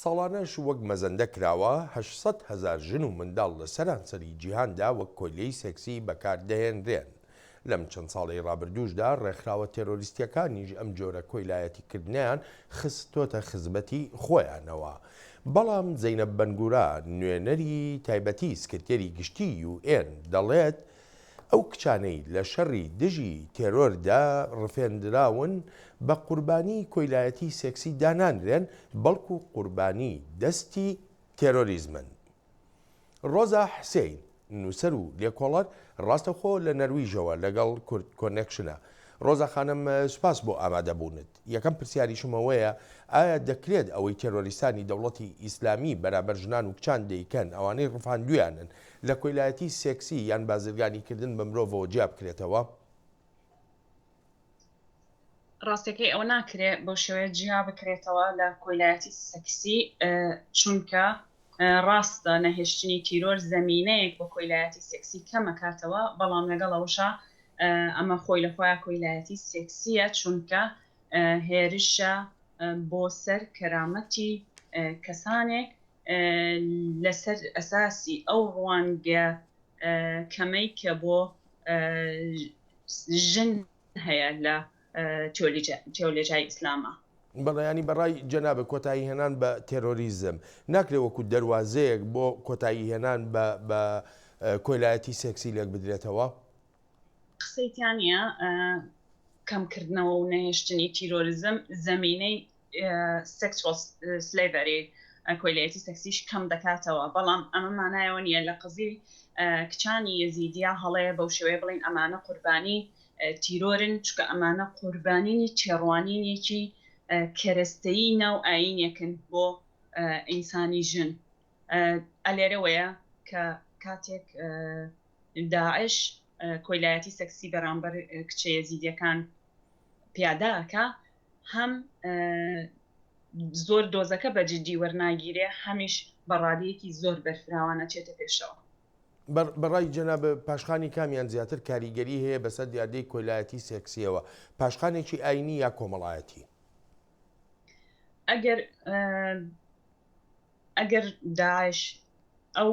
ساڵانەش وەک مەزەندە کراوە هەشت سەد هەزار ژن و منداڵ لە سەرانسەری جیهاندا وەک کۆیلەی سێکسی بەکار دەهێنرێن. لەم چەند ساڵەی ڕابردووشدا ڕێکخراوە تێرۆریستییەکانیش ئەم جۆرە کۆیلایەتیکردنەیان خستۆتە خزمەتی خۆیانەوە. بەڵام زەینەب بەنگورا، نوێنەری تایبەتی سکرتێری گشتیی یو ئێن دەڵێت، ئەو کچانەی لە شەڕی دژی تێرۆردا ڕفێندراون، بە قوربانی کۆیلایەتی سێکسی دانانرێن، بەڵکو قوربانی دەستی تێرۆریزمن. ڕۆزا حسێین، نووسەر و لێکۆڵەر، ڕاستەوخۆ لە نەرویژەوە لەگەڵ کوردکۆنێکشنە. ڕۆزا خانم، سوپاس بۆ ئامادەبوونت. یەکەم پرسیاریشم ئەوەیە ئایا دەکرێت ئەوەی تێرۆریستانی دەوڵەتی ئیسلامی بەرامبەر ژنان و کچان دەیکەن، ئەوانەی ڕفاندویانن، لە کۆیلایەتی سێکسی یان بازرگانیکردن بە مرۆڤەوە جیا بکرێتەوە؟ ڕاستەکەی ئەوە ناکرێت بەو شێوەیە جیا بکرێتەوە لە کۆیلایەتی سێکسی، چونکە ڕاستە نەهێشتنی تیرۆر زەمینەیەک بۆ کۆیلایەتی سێکسی کەمەکاتەوە، بەڵام لەگەڵ ئەوەشا ئەمە خۆی لە خۆیا کۆیلایەتی سێکسییە، چونکە هێرشە بۆ سەر کەرامەتی کەسانێک لەسەر ئەساسی ئەو ڕوانگە کەمەی کە بۆ ژن هەیە لە تیۆلۆجیای ئیسلامە. بەڵێ یانی بە ڕای جەنابت کۆتایی هێنان بە تێرۆریزم ناکرێ وەکوو دەروازەیەک بۆ کۆتایی هێنان بە بە کۆیلایەتی سێکسی لێک بدرێتەوە؟ قسەی تیا نییە کەمکردنەوە و نەهێشتنی تیرۆریزم زەمینەی Sexual Slavery، کۆیلەیەتی سێکسیش کەم دەکاتەوە، بەڵام ئەمە مانای ئەوە نییە لە قەزیەی کچانی یەزیدییە هەڵەیە بەو شێوەیە بڵێین ئەمانە قوربانی تیرۆرن، چونکە ئەمانە قوربانیی تێڕوانینێکی کەرەستەیی ناو ئایینێکن بۆ ئینسانی ژن. ئە لێرەوەیە کە کاتێک داعش کۆیلایەتی سێکسی بەرامبەر کچە یەزیدییەکان پیادە ئەکا، هەم زۆر دۆزەکە بە جدی وەرناگیرێ هەمیش بە ڕادەیەکی زۆر بەرفراوانە چێتە پێشەوە. بەڕای جەناب پاشخانی کامیان زیاتر کاریگەری هەیە بەسەر دیاردەی کۆیلایەتی سێکسیەوە، پاشخانێکی ئاینی یا کۆمەڵایەتی؟ ئەگەر ئەگەر داعش ئەو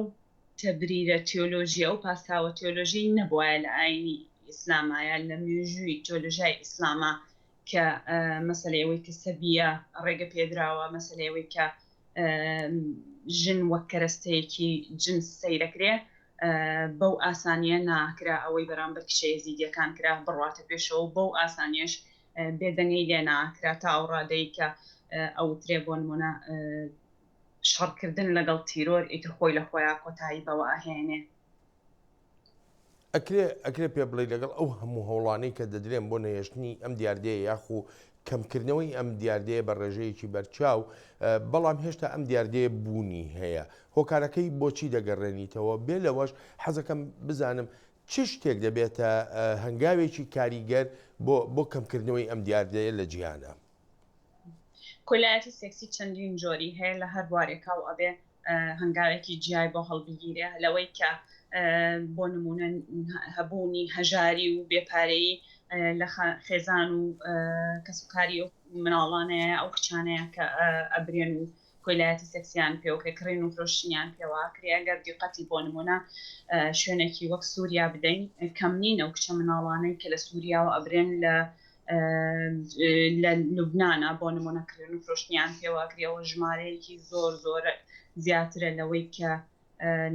تەبریرە تیۆلۆژی ئەو پاساوە تیۆلۆژی نەبواە لە ئاینی ئیسلامایە لە مێژووی تۆلژای ئیسلامە کە مەسەلەی ئەوەی کە سەبیە ڕێگە پێدراوە، مەسەلەی ئەوەی کە ژن وەک کەرەستەیەکی جنس سەیرەکرێ بەو ئاسانیە ناکرا ئەوەی بەرامبەر کچە یەزیدیەکان کرا بڕواتە پێشەوە و بەو ئاسانیەش بێدەنگەی لێ ناکرا تا ئەو ڕادەی کە ئەوترێ بۆ نمونە شەڕکردن لەگەڵ تیرۆر ئیتر خۆی لە خۆیان کۆتایی بەوە ئەهێنێ. ئەکرێ ئەکرێ پێ بڵێ لەگەڵ ئەو هەموو هەوڵانەی کە دەدرێن بۆ نەهێشتنی ئەم دیاردەیە یاخو کەمکردنەوەی ئەم دیاردەیە بە ڕێژەیەکی بەرچاو بەڵام هێشتا ئەم دیاردەیە بوونی هەیە هۆکارەکەی بۆچی دەگەڕێنیتەوە بێ لەوەش حەزەکەم بزانم چ شتێک دەبێتە هەنگاوێکی کاریگەر بۆ بۆ کەمکردنەوەی ئەم دیاردەیە لە جیهانە کۆیلایەتی سێکسی چەندین جۆری هەیە لە هەر بوارێکا و ئەبێ هەنگاوێکی جیای بۆ هەڵبگیرێ لەوەی کە بۆ نمونە هەبوونی هەژاری و بێپارەی لە خێزان و کەسوکاری و مناڵانەیە ئەو کچانەیە کە ئەبرێن و کۆیلایەتی سێکسیان پێ و پێکڕین و فرۆشتنیان پێوە کرێ گەر دیقەتی بۆ نموونە شوێنێکی وەک سوریا بدەین کەم نین ئەو کچە مناڵانەی کە لە سوریاوە ئەبرێن لە لە لوبنانا بۆ نموونە کرێن و فرۆشتنیان پێوە کرێ ئەوە ژمارەیەکی زۆر زۆر زیاترە لەوەی کە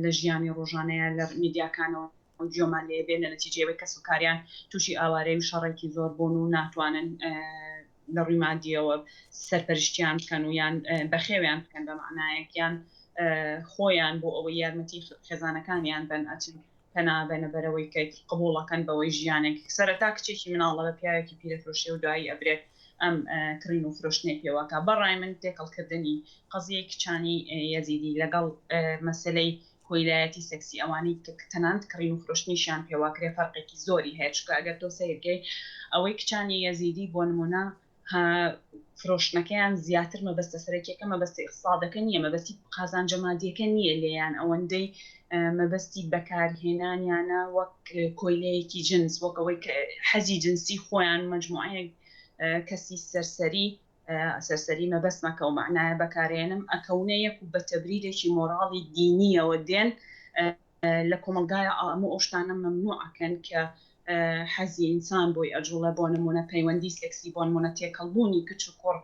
لە ژیانی ڕۆژانەیە لە میدیاکانەوە گوێمان لێ بێت لە نەتیجەی ئەوەی کەسوکاریان تووشی ئاوارەی و شەڕێکی زۆر بوون و ناتوانن لە ڕووی مادیەوە سەرپەرشتیان بکەن و یان بەخێویان بکەن بە معنایەک یان خۆیان بۆ ئەوەی یارمەتی خێزانەکانیان بن ئەچن پەنابەنە بەرەوەی کەیت قبوڵەکەن بەوەی ژیانێک سەرەتا کچێکی مناڵە بە پیاوێکی پیرەفرۆشێ و دوایی ئەبرێت ئەم کڕین و فرۆشتنی پێوەکە بەڕای من تێکەڵکردنی قەزیەی کچانی یەزیدی لەگەڵ مەسلەی کۆیلایەتی سێکسی ئەوانەی دیکە کە تەنانەت کڕین و فرۆشتنیشیان پێواکرێ فەرقێکی زۆری هەیە چونکە ئەگەر تۆ سەیر کەی ئەوەی کچانی یەزیدی بۆ نمونە ها فرۆشتنەکەیان زیاتر مەبەستە سەرەکیەکە مەبەستە ئیقسادەکە نیە مەبەستی قازانجە مادیەکە نیە لێیان ئەوەندەی مەبەستی بەکارهێنانیانە وەک کۆیلەیەکی جنس وەک ئەوەی کە حەزی جنسی خۆیان مەجموعەیەک کەسی سەرسەری سەرسەری مەبەستمەکە و مەعنایە بەکارێنم ئەکەونە یەک و بە تەبریرێکی مۆڕاڵی دینییەوە دێن لە کۆمەڵگایە ئەموو ئەو شتانە مەمنوع ئەکەن کە حەزی ئینسان بۆی ئەجوڵە بۆ نمونە پەیوەندی سێکسی بۆن مونە تێکەڵبوونی کچ و کوڕ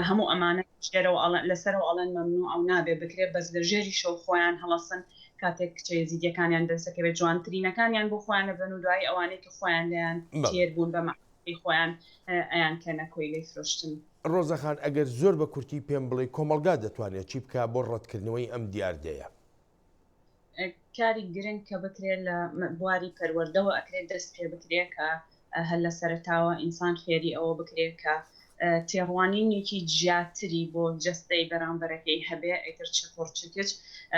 هەموو ئەمانە ژێرەوە ئەڵەن لەسەرەوە ئەڵەن مەمنوع ئەو نابێ بکرێ بەس لە ژێری شەو خۆیان هەڵەسن کاتێک کچە یەزیدیەکانیان دەسەکەوێت جوانترینەکانیان بۆ خۆیان نەبن و دوایی ئەوانەی کە خۆیان لێیان تێر بوون بەمە ی خۆیان ئەیان کەنە کۆیلەی فرۆشتن. ڕۆزە خان ئەگەر زۆر بە کورتی پێم بڵێی کۆمەڵگا دەتوانێ چی بکا بۆ ڕەتکردنەوەی ئەم دیاردەیە؟ کاری گرنگ کە بکرێ لە بواری پەروەردەوە ئەکرێ دەست پێ بکرێ کە هەر لە سەرەتاوە ئینسان فێری ئەوە بکرێ کە تێڕوانینێکی جیاتری بۆ جەستەی بەرامبەرەکەی هەبێ ئیتر چ کوڕ چ کچ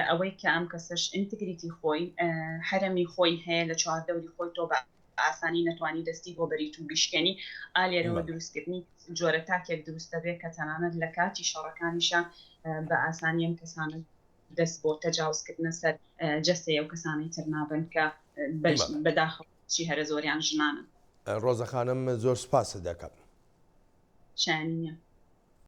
ئەوەی کە ئەم کەسەش ئینتگریتی خۆی هەرەمی خۆی هەیە لە چواردەوری خۆی تۆ بە ئاسانی نەتوانی دەستی بۆ بەریت و بیشکێنی ئا لێرەوە دروستکردنی جۆرە تاکێک دروست دەبێت کە تەنانەت لە کاتی شەڕەکانیشە بە ئاسانی ئەم کەسانە دەست بۆ تەجاوزکردنە سەر جەستەیە و کەسانی تر نابن کە بەداخەوە چی هەرە زۆریان ژنانن ڕۆزەخانم زۆر سپاست دەکەم شانە.